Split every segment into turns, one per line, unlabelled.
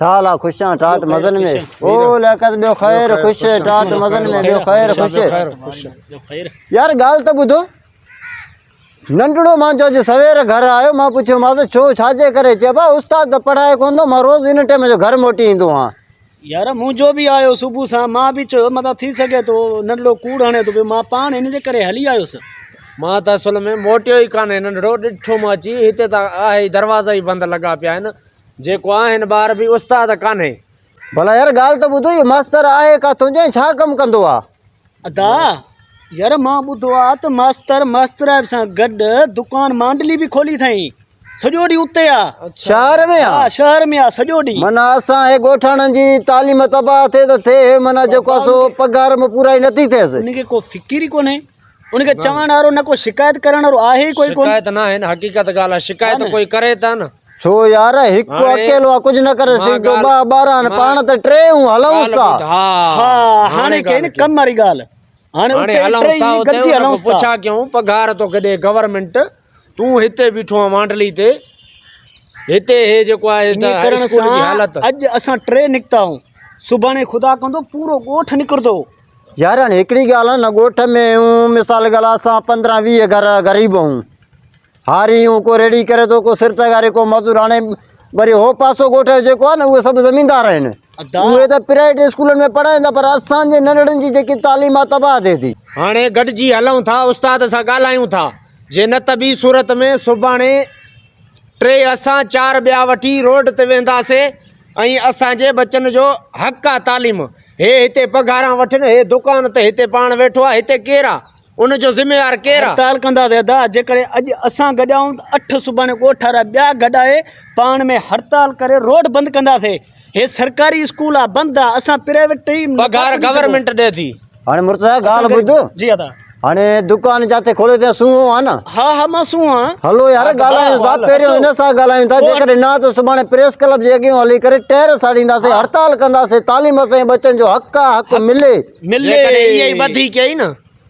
سال آ خوش آن ٽاٽ مزن ۾ او لياقت ٻيو خير خوش ٽاٽ مزن ۾ ٻيو خير خوش يار ڳالھ ته ٻڌو ننڍڙو مان جو اڄ سوير گھر آيو مان پڇيو ماس ڇو ڇاجي ڪري چي با استاد ته پڙھائي ڪون ٿو مان روز ان ٽيم جو گھر موٽي ايندو آھان يار مون جو
به آيو صبح سان مان به چيو متان ٿي سگھي ٿو ننڍڙو ڪوڙ ھڻي ٿو پيو مان پاڻ ان جي ڪري ھلي آيوس مان ته اصل
۾ موٽيو ئي ڪانه ننڍڙو ڏٺو مان اچي ھتي ته آھي دروازا ئي بند لڳا پيا آھن جيڪو آ هن ٻار به استاد ڪانهي. ڀلا يار ڳالهه
ته ٻڌ هي ماستر آهي ڪا تنهنجو ۽ ڇا ڪم ڪندو آ. ادا
يار مان ٻڌو آ ته ماستر ماسترائپ سان گڏ دڪان مانڊلي به کولي اٿائين سڄو ڏينهن اتي آ. شهر ۾ آ. ها
شهر ۾ آ سڄو
ڏينهن. معنيٰ اسان هي ڳوٺاڻن
جي تعليم تباهه ٿئي ته ٿئي معنيٰ جيڪو آ سو پگهار ۾ پورائي نٿي ٿئيس. ان کي ڪو فڪر ئي
ڪونهي. ان کي چوڻ وارو نه ڪو شڪايت ڪرڻ وارو آهي ئي ڪوئي ڪونه. شڪايت نه آهي نه حقيقت
ڳالهه آهي شڪايت ڪوئي ڪري ته نه. ڇو يار
هڪ اڪيلو آ ڪجهه نه ڪري سگهندو ٻه ٻار آهن پاڻ ته ٽي هون هلون ٿا. ها
هاڻي ڪئي نه ڪم واري ڳالهه هاڻي اتي ٽي هلون
ٿا اتي پڇا ڪيون پگهار توکي ڏي گورنمينٽ. تون هتي بيٺو آهين وانڊلي تي، هتي هي جيڪو آهي ته هاء اسڪول جي حالت. اڄ اسان ٽي
نڪتا آهيون، سڀاڻي خدا ڪندو پورو ڳوٺ نڪرندو. يارن هڪڙي
ڳالهه هن ڳوٺ ۾ هيون مثال ڳالهه اسان پندرهن ويهه گهر غريب هيون، هاري هيون ڪو ريڙهي ڪري ٿو ڪو سر تغاري ڪو مزور هاڻي وري هو پاسو ڳوٺ جو جيڪو آهي نه اهي سڀ زميندار آهن اهي ته پرائيويٽ اسڪولن ۾ پڙهائين ٿا پر اسان جي ننڍڙن جي جيڪي تعليم آهي تباهه ٿئي ٿي. هاڻي گڏجي
هلون ٿا استاد سان ڳالهايون ٿا. جي نه ته ٻي صورت ۾ سڀاڻي ٽي اسان چار ٻيا وٺي روڊ تي وينداسي ۽ اسان جي بچن جو حق آ تعليم هي هتي پگهاران وٺن هي دڪان تي هتي پاڻ ويٺو آ هتي ڪير آ ان جو ذميوار ڪير آ. هڙتال ڪنداسي ادا
جيڪڏهن اڄ اسان گڏ آهيون ته اٺ سڀاڻي ڳوٺ وارا ٻيا گڏ آهي پاڻ ۾ هڙتال ڪري روڊ بند ڪنداسي. هي سرڪاري اسڪول آ بند آ اسان پرائيويٽ ٽي پگهار گورنمنٽ
ڏي ٿي. هاڻي مرتضيٰ ڳالهه
ٻڌ جي ادا. هاڻي
دڪان
جاتي کوليو ٿي سونهون آ نه. ها ها مان سونهون آ.
هلو يار ڳالهايون
ٿا پهريون هن سان ڳالهايون ٿا جيڪڏهن نه ته سڀاڻي پريس ڪلب جي اڳيون هلي ڪري ٽهر ساڙينداسين هڙتال ڪنداسين تعليم اسان جي ٻچن جو حق آ حق ملي ملي جيڪڏهن اهي ئي
ٻڌي ڪيائين نه.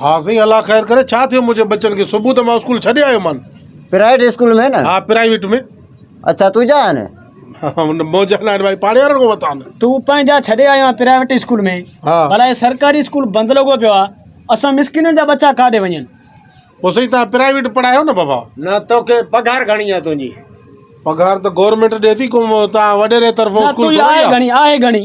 ها سائين الله
خير ڪري ڇا ٿيو منهنجي ٻچن کي صبح ته مان اسڪول ڇڏي آيو مان. پرائيوٽ اسڪول ۾
نه. ها پرائيوٽ ۾.
اڇا تنهنجا
آهن. ها منهنجا
نه آهن ڀائي پاڙي وارن کان ورتا آهن. تون پنهنجا ڇڏي آيو آهين
پرائيوٽ اسڪول ۾ ڀلا هي سرڪاري اسڪول بند لڳو پيو آهي اسان مسڪينن جا ٻچا ڪاڏي وڃن. پوء سائين توهان
پرائيوٽ پڙهايو نه بابا. نه توکي پگهار
گهڻي آهي تنهنجي. پگهار ته
گورنمينٽ ڏي ٿي ڪو توهان وڏيري طرفون اسڪول ٿوري آهي. نه تنهنجي آهي گهڻي آهي گهڻي.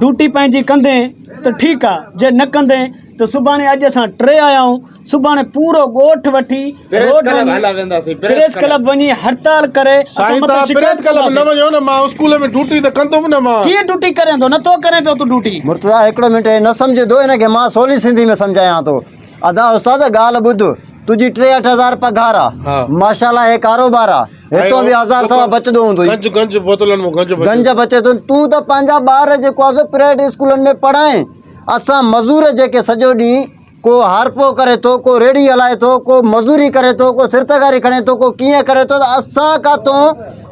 ڊوٽي پنهنجي ڪندين ته ٺيڪ آ جي نه ڪندين ته سڀاڻي اڄ اسان ٽي آيا آهيون سڀاڻي پورو ڳوٺ وٺي روڊ وڃي پريس ڪلب وڃي هڙتال ڪري اسان مٿان
شڪايت ڪنداسين ڪيئن ڊوٽي ڪرين ٿو نه ٿو
ڪرين پيو تون ڊوٽي. مرتضيٰ هڪڙو منٽ هي نه
سمجهندو هن کي مان سولي سنڌي ۾ سمجهايان ٿو. ادا استاد ڳالھ ٻڌ تنهنجي ٽي اٺ هزار پگهار آ ماشا الله هي ڪاروبار آ هتون به هزار سوا بچدو هوندوئي گنج گنج بوتلن مون
گنج گنج بچي ٿو تون
ته پنهنجا ٻار جيڪو آ سو پرائيويٽ اسڪولن ۾ پڙهائين اسان مزور جيڪي سڄو ڏينهن ڪو هارپو ڪري ٿو ڪو ريڙهي هلائي ٿو ڪو مزوري ڪري ٿو ڪو سرتگاري کڻي ٿو ڪو ڪيئن ڪري ٿو ته اسان ڪاتو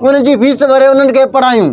ان جي فيس ڀري انهن کي پڙهايون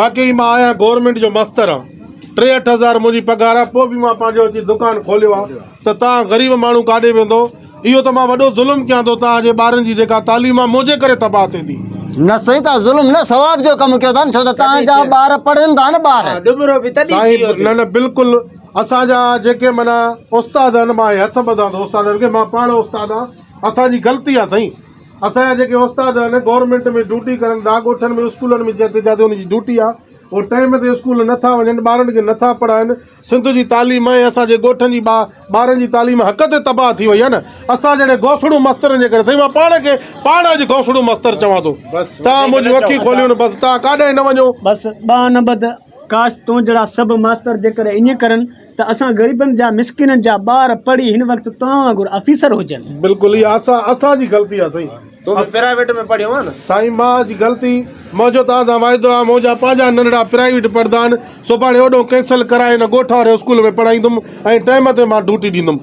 واقعي مان آهيان گورنمينٽ جو مستر آن ٽيهٺ هزار منهنجي پگهار آ پو به مان پنهنجو اچي دڪان کوليو آ ته تان غريب ماڻهو ڪاڏي ويندو اهو ته مان وڏو ظلم ڪيان ٿو تان جي ٻارن جي جيڪا تعليم آ منهنجي ڪري تباهه ٿيندي. نه سائين تان ظلم
نه ثواب جو ڪم ڪيو ٿا نه ڇو ته تان جا ٻار پڙهن ٿا نه ٻار. ڏٻرو به تڏهن ٿي ويو
ٿي. نه نه بلڪل
اسان جا جيڪي معنيٰ استاد آهن مان هي هٿ ٻڌان ٿو استادن کي مان پاڻ استاد آ اسان جي غلطي آ سائين. اسان جا جيڪي استاد آهن گورنمينٽ ۾ ڊيوٽي ڪرن ٿا ڳوٺن ۾ اسڪولن ۾ جتي جتي انهن جي ڊيوٽي آهي اهي ٽائيم تي اسڪول نٿا وڃن ٻارن کي نٿا پڙهائن سنڌ جي تعليم ۽ اسان جي ڳوٺن جي ٻارن جي تعليم حق تي تباهه ٿي وئي آهي نه اسان جهڙي گوسڙو مسترن جي ڪري سائين مان پاڻ کي پاڻ اڄ گوسڙو مستر چوان ٿو تان منهنجي اکي کوليو نه بس تان ڪاڏانهن نه وڃو بس ٻانهن نه ٻڌ
ڪاش تون جهڙا سڀ ماستر جيڪڏهن ائين ڪرن ته اسان غريبن جا مسڪينن جا ٻار پڙهي هن وقت توهان وانگر آفيسر هجن. بلڪل اها اسان
اسان جي غلطي آ سائين. تون به پرائيوٽ ۾
پڙهيو آ نه. سائين مان جي غلطي
منهنجو توهان سان واعدو آ منهنجا پنهنجا ننڍڙا پرائيوٽ پڙهندا آهن سڀاڻي اوڏهون ڪينسل ڪرائي هن ڳوٺ واري اسڪول ۾ پڙهائيندم ۽ ٽائيم تي مان ڊوٽي ڏيندم.